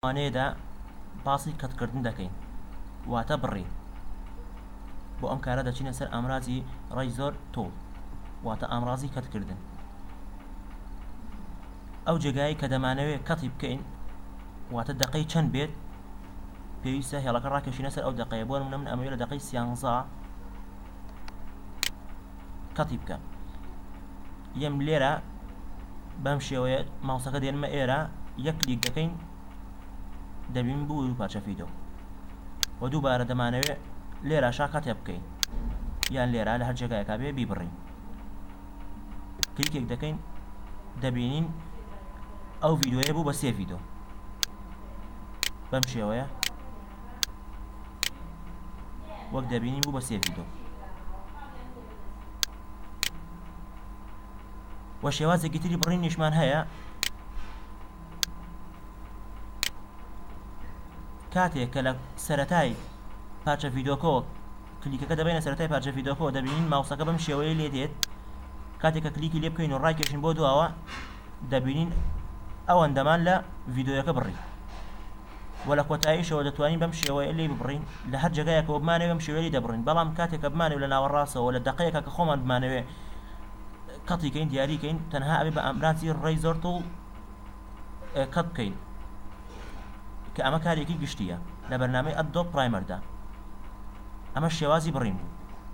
وانەیەدا باسی کەتکردن دەکەین واتە بڕین بۆ ئەم کارە دەچینە سەر ئامرازی ڕێی زۆر تۆڵ واتە ئامرازی کەتکردن ئەو جێگایی کە دەمانەوێت کەتی بکەین واتە دقەی چەند بێت پێویستە هێڵەکە ڕاکێشینە سەر ئەو دقەیە بۆ منە من ئەمەوێت لە دقەی سیانزا قەتی بکە یەم لێرە بەم شێوەیە ماوسەکە دێنمە ئێرە یەک کلیک دەکەین دەبین بوو دوو پارچە فیدۆ و دووبارە دەمانەوێت لێرە شاکاتێ بکەین یان لێرە لە هەر جێگایەکە بێ بیبڕین کلیکێک دەکەین دەبینین ئەو ڤیددیوە بوو بە سێ ڤیددیو بەم شێوەیە وەک دەبینین بوو بە سێ ڤیدۆ و شێوازێکی تری بڕینیشمان هەیە کاتێک کە لە سەتای پارچە ڤیدۆکۆ کلیکەکە دەبێنە سەرای پارچە ڤیدۆکۆ دەبینین ماوسەکە بەم شێوەیە لێ دێت کاتێک کە کلیکی لێ بکەین و ڕایکێشین بۆ دواوە دەبینین ئەوەندەمان لە ڤیددیوەکە بڕی و لە کۆتاییشەوە دەتوانین بەم شێوەیە لێی ببڕین لە هەر جێگایەکەوە بمانەوێ بەم شێوەیە لێی دەبڕین بەڵام کاتێک کە بمانەوێ لە ناوەڕاستەوە لە دەقەیەکە کە خۆمان بمانەوێ کەتی کەین دیاری کەین تەنها ئەبێ بە ئامرازی ڕێیزۆرت و کەت بکەین کە ئەمە کارێکی گشتیە لە بەرنامەی ئەدۆ پرایمەردا ئەمە شێوازی بڕین بوو